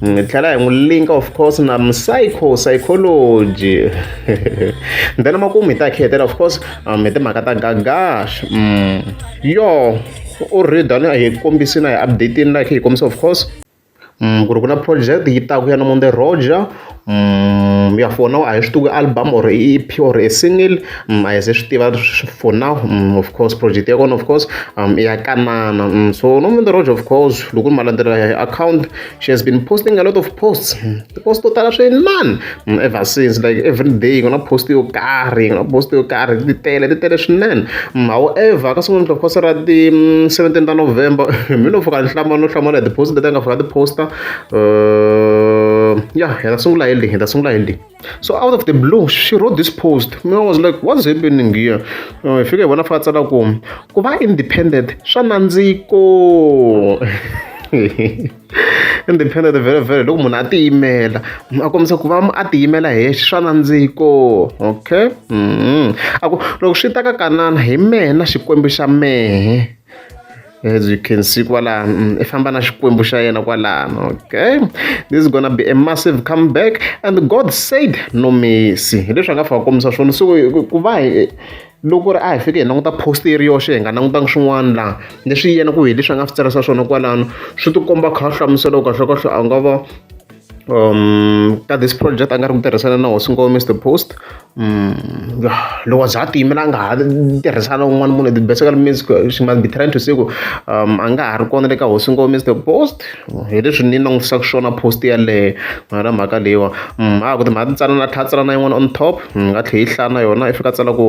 hi tlhela hi n'wi link of course na psycho psychology then makumu hi ta khetela of course um, hi timhaka ta gagash mm. yo u rida hi kombisi na hi updatini na khe hi kombisa of course mm, ku ri ku na project yi taku ya nomonde roger mm, ya for now a hi swi tivi album or e ep or e single mm, a hi se swi tiva for now mm, of course project ya kona of course um, ya kanana mm, so nomonde roger of course loko ni ma landzelela hi account she has been posting a lot of posts tipost to tala swinene ever since like every day ku na post yo karhi ku na post yo karhi ti tele ti tele swinene however ka siku ni of course ra ti 17 ta november mi no fika ni hlama no hlamala hi tipost leti a nga fika ti posta uh ya hi ta sungula hi leyi hi ta sungula hi leyi so out of the blue she wrote this post me i was like what's happening here uh, i fike vona fa tsala ku ku va independent swa nandziko independent very very loko munhu a tiyimela a kombisa ku va a tiyimela hi yexe swa nandziko okay mm-hmm. a ku loko swi ta ka kanana hi mena xikwembu xa mehe as you can see kwalano mm, i famba na xikwembu xa yena kwalano okay this is gonna be a massive comeback and god said no mercy hi leswi a nga fika kombisa swona so ku va hi loko ri a hi fike hi languta post yi ri yoxe hi nga langutanga swin'wana laha leswi yena ku hi leswi a nga swi tsarisa swona kwalano swi tikomba kha hlamusela kahlekahle a nga va um ka this project a nga ri ku tirhisana na hosi ngome mr post um loko za a tiyimela a nga ha tirhisana un'wana munhu the basically means she must be trying to say ku um a nga ha ri kona le ka hosi ngome mr post hi leswi ni langutisaka swona post yaleyo ngana mhaka leyiwa um a ku timhaka tintsanana tlha tsalana yin'wana on top ni nga tlhe yi hlaya na yona i fika tsala ku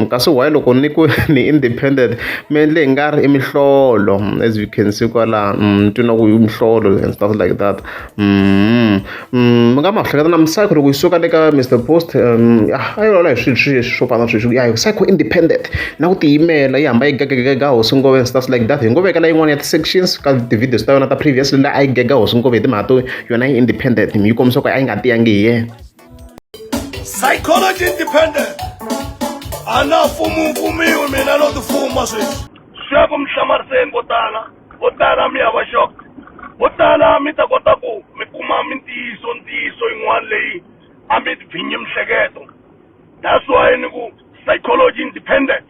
kasi why loko ni ku ni independent mi endle hi nga ri i mihlolo as you can see kwalano ni twi na ku i mihlolo and stuff like that mi nga ma hleketa na misava loko yi suka le ka Mister Post ya a yi lawula hi swilo swi swo fana na sweswi ya hi psycho independent na ku tiyimela yi hamba yi gagagaga hosi ngome and stuff like that hi ngo vekela yin'wana ya ti-sections ka ti-videos ta yona ta previous la a yi gega hosi ngome hi timhaka to yona yi independent yi kombisa ku a yi nga tiyangi hi yena. psychology independent a na fumumfumiwi mina no tifuma sweswi swi ya ku mi hlamariseni vo tala vo tala mi ya va xok vo tala mi ta kota ku mi kuma mintiyiso ntiyiso yin'wana leyi a mi bvinyi mihleketo that's why ni ku psychology independence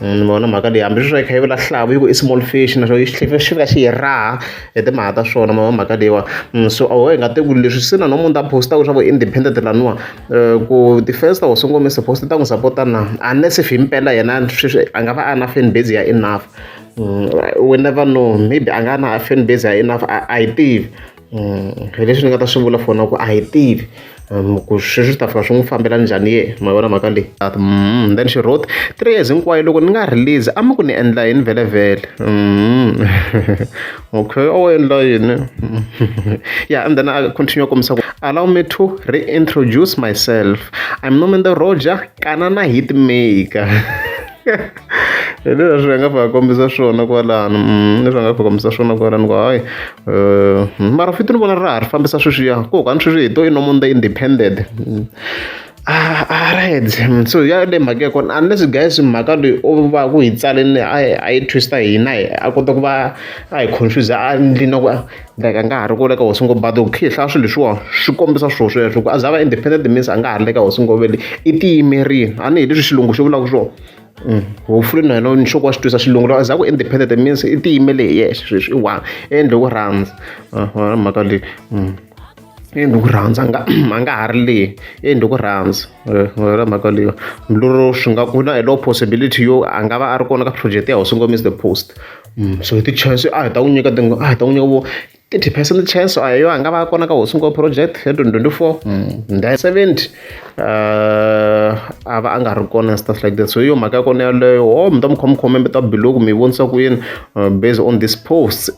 Ni vona mhaka leyi hambileswi yi kha yi vula xihlavo yi ku i small fish na xona xi fika xi yi raha hi timhaka ta swona ma vo mhaka leyiwani so a ho hi nga te ku leswi se na no munhu ta post-a ku swa ku independent laniwa ku ti-fans ta Hosi Nkomiso suppose ti ta n'wi support-a na unless if himpela yena sweswi a nga va a na fan base ya enough we never know maybe a nga na fan base ya enough a a hi tivi. hi leswi ni nga ta swi vula for na ku a hi tivi ku sweswi swi ta fika swi n'wi fambela njhani ye ma vona mhaka leyi then she wrote three years hinkwayo loko ni nga release a mi ku ni endla yini vhelemvhele okay a wu endla yini ya and then a continue a kombisa ku allow me to reintroduce myself I'm Nomente Roger kanana hit maker. hi leswi hi nga va kombisa swona kwalano mm, leswi nga va kombisa swona kwalano ku hayi um mara fiti ni vona ra ha ri fambisa sweswiya ku hokani sweswi hi to i nomo the independent mm. ah, ah, right mm, so ya le mhaka ya kona unless guys mhaka leyi u va ku hi tsaleni a yi twista hina a kota ku va a hi confuse a ndlini ku like a nga ha ri ku le ka hosi ngobadi ku khihlaya swilo leswiwa swi kombisa swilo sweswo ku a za va independent means a nga ha ri le ka hosi ngobele i tiyimerile a ni hi leswi xilungu xi vulaka swona mm. hofuli na yena nhloko wa xi twisa xilungu loko a za ku independent means i tiyimele hi yexe sweswi i one endle ku rhandza mhaka leyi mm. endle ku rhandza nga a nga ha ri leyi endle ku rhandza ra mhaka leyi milorho swi nga ku na hi low possibility yo a nga va a ri kona ka project ya hosi ngomisa the post so hi ti-chance a hi ta n'wi nyika a hi ta n'wi nyika vo thirty percent chance a hi yo a nga va kona ka hosi nkova project ya twenty twenty four then seventy a va a nga ri kona and stuff like that so hi yo mhaka ya kona yaleyo o mi ta mi khoma khome mi ta biloku mi vonisa ku yini based on this post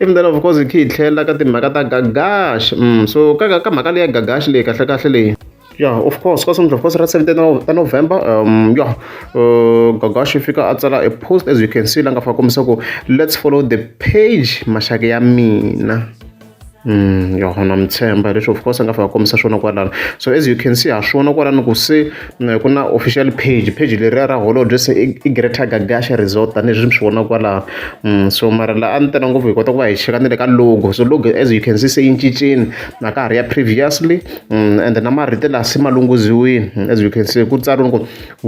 even then of course hi khe hi tlhelela ka timhaka ta gagash so ka ka mhaka leyi ya gagash leyi kahlekahle leyi yeah of course ka seventh of course ra 17 ta november um yeah uh, gagashi fika a tsala a post as you can see la nga fa kombisa ku let's follow the page maxaka ya mina Mm, yo na mtshemba leswi of course a nga fika kombisa swona kwalano so as you can see ha swona kwalano ku se mm, ku na official page page leriya ra holobye se i greater gagasha resort tanihileswi mi swi vona kwalano mm, so mara la a ni tena ngopfu hi kota ku va hi cheka ni le ka logo so logo as you can see se yi cincini na ka ha ri ya previously ende na marito laha se ma lunghiziwile as you can see ku tsariwe ku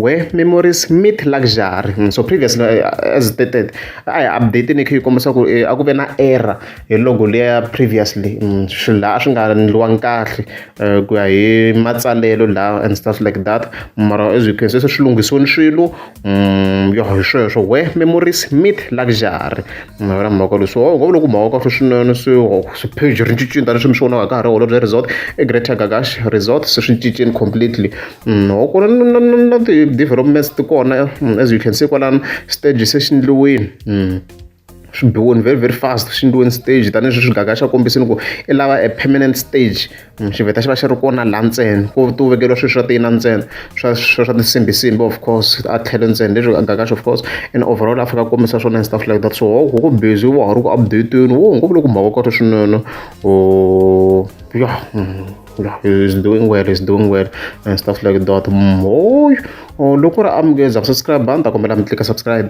where memories meet luxury so previous as stated a hi update ni kha yi kombisa ku eh, a ku ve na error hi logo leya previously mm, swilo laha a swi nga endliwangi kahle eh, ku ya hi matsalelo laha and stuff like that mara as you can see se swi lunghisiwe ni swilo Mm, yo hi sweswo we memories mit luxury mm, ra mhaka leswi oh, ngo loko mhaka kahle swinene swipage oh, ri cincini tani swi mi swi vonaka ka ha ri holo bya resort egreater gagash resort se swi cincini completely mm, ho ku na ti-developments ti kona as you can see kwalano stage se xi ndliwini swi biwe ni very very fast swi endliwe ni stage tanihileswi swi gaga xa kombisini ku i lava a permanent stage xiveta xi va xi ri kona laha ntsena ku ti wu vekeriwa swilo swa tiyina ntsena swa swa swa tinsimbisimbi of course a tlhelo ntsena leswi gaga xo of course and overall a fika a kombisa swona and stuff like that so ho ku ku busy wa ha ri ku update-iweni wo ngo vula ku mhaka kota swinene o ya is doing well is doing well and stuff like that mhoyo loko ri amukeza ku subscribe a ni ta kombela mi tlika subscribe